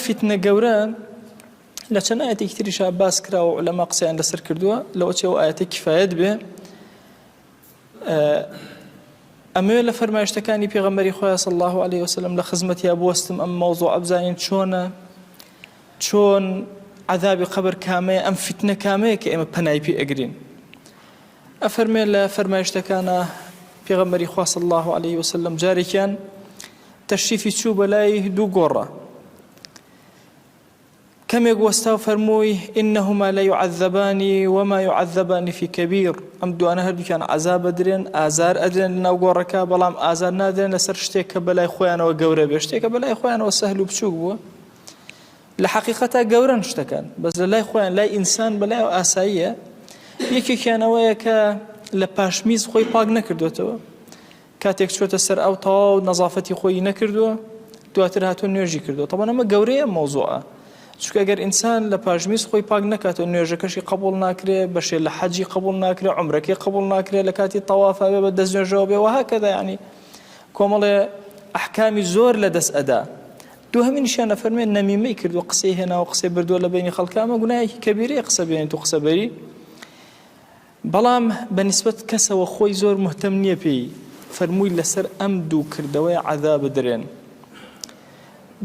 فیتنە گەورە لە چەند ئایەتێکی تریشا باس کراوە و لەما قسەیان لەسەر کردووە لەوە چێ و ئاەتە کیفاەت بێ ئەمەوێت لە فەرمایشتەکانی پێغەمەری خۆیان سە الله عليه وسلم لە خزمەتیا بستم ئەم مەوزۆ ئەبزانین چۆنە چۆن عذابی قبر کامەیە ئەم فتنە کامەیە کە ئێمە پەنای پێ ئەگرین ئەفەرمێ لە فەرمایشتەکانە پێغەمەری خواص الله عليه وسلم جارێکیان تەشریفی چوو بە لای دوو گۆڕە کەمێک وەستا و فەرمووی ئینەهما لە یعذبانی وما یعذبانی فی کەبیر ئەم دوانە هەردووکیان عذا بدرێن ئازار ئەدرێن لەناو گۆڕەکە بەڵام ئازار نادرێن لەسەر شتێک کە بەلای خۆیانەوە گەورە بێ شتێکە بەلای خۆیانەوە سەهل و بچووک بووە لە حقیقەتا گەورن شتەکان بەس لە لای خۆیان لای ئینسان بەلای ئاساییە یەکێکیانەوەیە کە لە پاشمیز خۆی پاک نەکردوێتەوە کاتێک چۆتە سەر ئاو تەواو نەزافەتی خۆی نەکردووە دواتر هاتوو نوێژی کردو تەبەن ئەمە گەورەیە مۆزۆە چکە گەر ئینسان لە پاژمیز خۆی پاک نکاتەوە نوێژەکەشی قبول ناکرێ بەشێ لە حەجی قبول ناکرێ عمرەکەی قبول ناکرێ لە کاتی تەوافاوێ بە دەست نوێژەوە بێ وها کەدا ینی کۆمەڵێ ئەحکامی زۆر لە دەست ئەدا دو هەمین شانە فەرمێن نەمیمەی کردو قسەی هێناوە قسەی بردووە لە بینی خەڵکە ئەمە گوناهێکی کەبیرەیە قسە بێنێت و قسە بەری بەڵام بە نیسبەت کەسەوە خۆی زۆر موهتەم نیە پێی فەرمووی لەسەر ئەم دوو کردەوەی عەزا بدرێن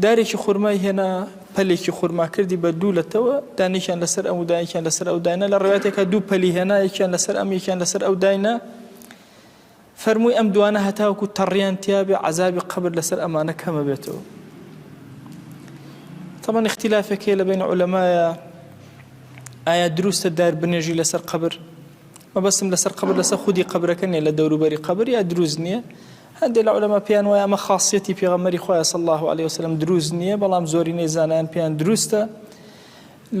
دارێکی خورمای هێنا پەلێکی خورما کردی بە دوو لەتەوە دانێکیان لەسەر ئەم دایکیان لەسەر ئەو داینە لە ڕێاتێکا دوو پەلی هێنا یەکیان لەسەر ئەم یەکیان لەسەر ئەو داینە فەرمووی ئەم دوانە هەتاوەکو تەڕیان تیابێ عەزابی قەبر لەسەر ئەمانە کەمە بێتەوە طبعا اختلافێک هەیە لە بین علەمایە ئایا دروستە دار بنێژی لەسەر قبر مەبەستم لەسەر قبر لەسەر خودی قبرەکە نیە لە دەوروبەری قبر یا دروست نییە هەندێک لە علەما پێیان وایە ئەمە خاصەتی پێغەمەری خۆیان صلی الله عليه وسلم دروست نییە بەڵام زۆرینەی زانایان پێیان دروستە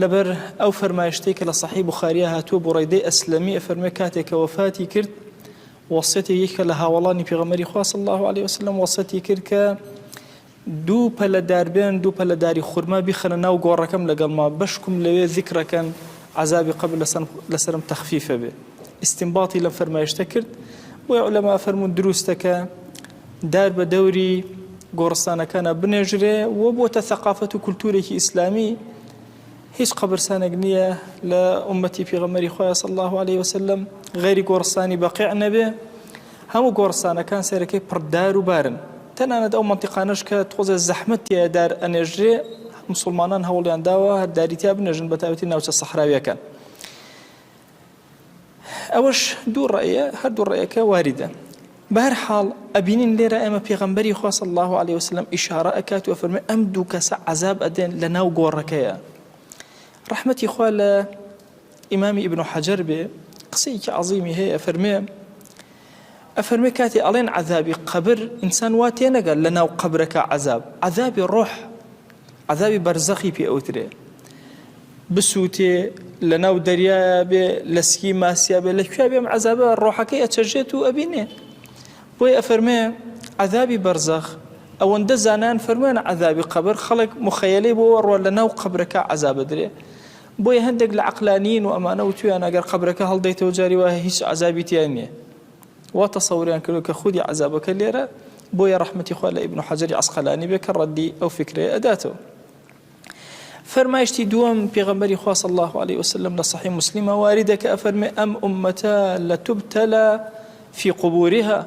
لەبەر ئەو فەرمایشتەی کە لە سەحیح بوخاریە هاتووە، بوڕەیدەی ئەسلەمی ئەفەرموێ کاتێ کە وەفاتی کرد وەسیەتی یەکێکە لە هاوەڵانی پێغەمبەری خوا صلی اللە علیە وسلم وەسیەتی کرد کە دوو پەلە دار بێن دوو پەلە داری خورما بیخەنە ناو گۆڕەکەم لەگەڵ ما بەشکم لەوێ ذکرەکەن عذابی قبر لەسەر لەسرم تخفیفە بێ استنباطی لەم فەرمایشتە کرد بۆی علەما فەرمون دروستەکە دار بە دەوری گۆڕستانەکانا بنێژرێ و بۆتە ثەقافەت و کولتوورێکی ئیسلامی هیچ قەبرسانێک نییە لە ئومەتی پیغەمەری خۆیان صلی الله عليه وسلم غەیری گۆڕستانی بەقیع نەبێ هەموو گۆڕستانەکان سەرەکەی پڕدار و بارن تەنانەت ئەو منطقانەش کە تۆزێ زەحمەت تێ دار ئەنێژرێ مسلمانان هەوڵیان داوە هەرداری تیا بنێژن بە تایبەتی ناوچە سەحراویەکان ئەوەش دوو ڕێیە هەردوو ڕێیەکە واریدە بەهر حاڵ ئەبینین لێرە ئێمە پێغەمبەری خواص الله عليه وسلم ئیشارە ئەکات و فەرمی ئەم دوو کەسە عذاب ئەدێن لە ناو گۆڕەکەیە ڕحمەتی خوا لە ئیمامی ئیبن و حەجەر بێ قسەیەکی عظیمی هەیە فەرمێ ئەفەرموێ کاتێ ئەڵێن عەزابی قەبر ئینسان وا تێنەگات لە ناو قەبرەکە عەزاب عەزابی ڕۆح عەزابی بەرزەخی پێ ئەوترێ بسووتێ لە ناو دەریایە بێ لە سکی ماسیا بێ لە کوێ بێم عذابە ڕۆحەکەی ئەچەژێت و ئەبینێ بۆی ئەفەرمێ عذابی بەرزەخ ئەوەندە زانان فەرموێنە عذابی قەبر خەڵک مخەیەلەی بۆوە ڕۆ لە ناو قەبرەکە عذابە درێ بۆیە هەندێک لە عەقلانیین و ئەمانە وتویانە ئەگەر قەبرەکە هەڵدەیتەوە جاری وایە هیچ عەزابی تیا نیە وا تەسەوریان کردوە کە خودی عەزابەکە لێرە بۆیە ڕەحمەتی خوا لە ئیبن حەجەری عەسقەلانی بێ کە ڕەدی ئەو فکرەیە ئەداتەوە فەرمایشتی دووەم پێغەمبەری خوا صلی الله علیه وسلم لە صحیح مسلمە واریدە کە ئەفەرمێ ئەم ئومەتە لە تبتلا فی قبورها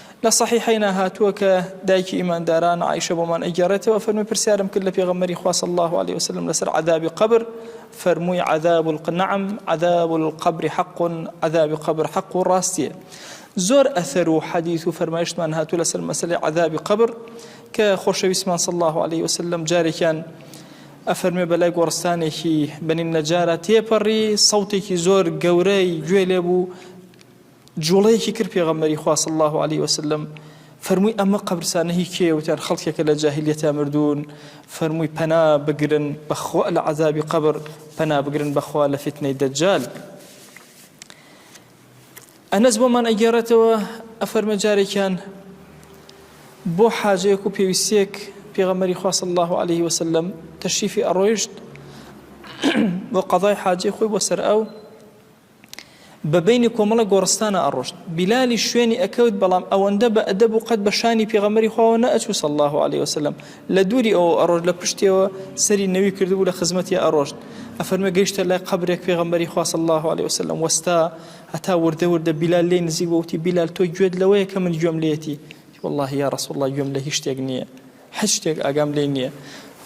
لە صەحیحەینا هاتووە کە دایکی ئیمانداران عائیشە بۆمان ئەگێڕێتەوە فەرمووی پرسیارم کرد لە پێغەمبەری خوا صلی اللە علیه وسلم لەسەر عەذابی قەبر فەرمووی عذاب الق نعم عذاب القبر حق عذابی قەبر حق و ڕاستیە زۆر ئەثەر و حەدیث و فەرمایشتمان هاتوو لەسەر مەسلەی عذابی قبر کە خۆشەویستمان صلی الله عليه وسلم جارێکیان ئەفەرمێ بەلای گۆڕستانێکی بنین نەجارە تێپەڕی سەوتێکی زۆر گەورەی گوێ لێ بوو جوڵەیەکی کرد پێغەمبەری خوا صلی اللە علیە وسلم فەرمووی ئەمە قەبرسانە هی کێیە وتیان خەڵکێکە لە جاهلیەتە مردوون فەرمووی پەنا بگرن بەخوا لە عذابی قەبر پەنا بگرن بەخوا لە فتنەی دەجال ئەنەس بۆمان ئەگەڕێتەوە ئەفەرمە جارێکیان بۆ حاجەیەک و پێویستێک پێغەمەری خواص الله عليه وسلم تەشریفی ئەڕۆیشت بۆ قەضای حاجی خۆی بۆ سەر ئەو بە بەینی کۆمەڵە گۆڕستانە ئەڕۆشت بیلالیش شوێنی ئەکەوت بەڵام ئەوەندە بە ئەدەب و قەت بە شانی پێغەمبەری خواوە نەئەچوو صلی الله علیه وسلم لە دووری ئەوە ئەڕۆشت لە پشتیەوە سەری نەوی کردبوو لە خزمەتی ئەڕۆشت ئەفەرمێ گەیشتە لای قەبرێک پێغەمبەری خوا صلی الله علیه وسلم وەستا هەتا وردە وردە بیلال لێ نزیک وتی بیلال تۆ گوێت لەوەیە کە من گوێم لێتی والله یا رسول الله گوێم لە هیچ شتێک نییە هیچ شتێک ئاگام لێ نییە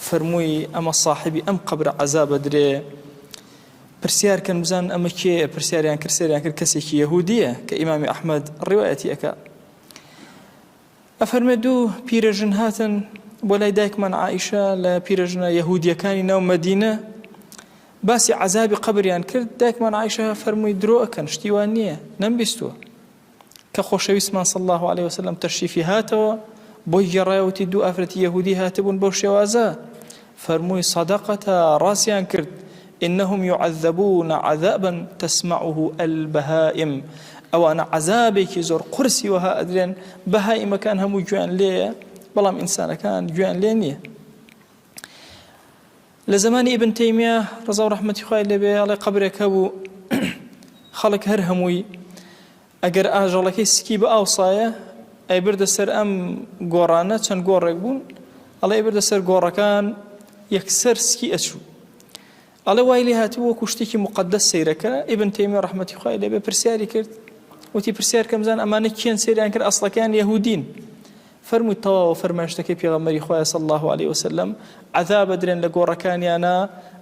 فەرمووی ئەمە صاحبی ئەم قەبرە عەزابە درێ پرسیار کەن بزانن ئەمە کێیە پرسیاریان کرد سەریان کرد کەسێکی یەهودیە کە ئیمامی ئەحمد ڕیوایەتی ئەکا ئەفەرمێ دوو پیرەژن هاتن بۆ لای دایکمان عیشە لە پیرەژنە یەهودیەکانی ناو مەدینە باسی عذابی قبریان کرد دایکمان عیشە فەرمووی درۆ ئەکەن شتیوان نییە نەمبیستووە کە خۆشەویستمان صلی اللە علیە وسلم تەشریفی هاتەوە بۆی گێڕایە وتی دوو ئافرەتی یەهودی هاتبوون بەو شێوازە فەرمووی صدقتا ڕاستیان کرد إنهم يعذبون عذابا تسمعه البهائم ئەوانە عذابێکی زۆر قرسی وەها ئەدرێن بەهائیمەکان هەموو گوێن لێیە بەڵام ئینسانەکان گوێن لێ نییە لە زەمانی ئیبن تەیمیە ڕەزاو ڕەحمەتی خوای لێبێ ئەڵێ قەبرێک هەبوو خەڵک هەر هەمووی ئەگەر ئاژەڵەکەی سکی بە ئاو سایە ئەی بردە سەر ئەم گۆڕانە چەند گۆڕێک بوون ئەڵێ بردە سەر گۆڕەکان یەکسەر سکی ئەچوو ئەڵێ وای لێ هاتوو وەکو شتێکی مقدەس سیرەکە ئیبن تەیمی ڕحمەتی خخوای لێبێ پرسیاری کرد وتی پرسیار کەمزان ئەمانە کێن سریان کرد ئەسڵەکەیان یهودین فەرمووی تەواوە فەرمایشتەکەی پێغەمبەری خوایە صلی اللە علیە وسلم، عەذاب ئەدرێن لە گۆڕەکانیانا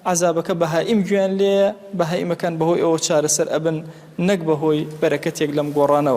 عەذابەکە بەهائیم گوێیان لێیە، بەهائیمەکان بەهۆی ئەوە چارەسەر ئەبن نەک بەهۆی بەرەکەتێک لەم گۆڕانەوە.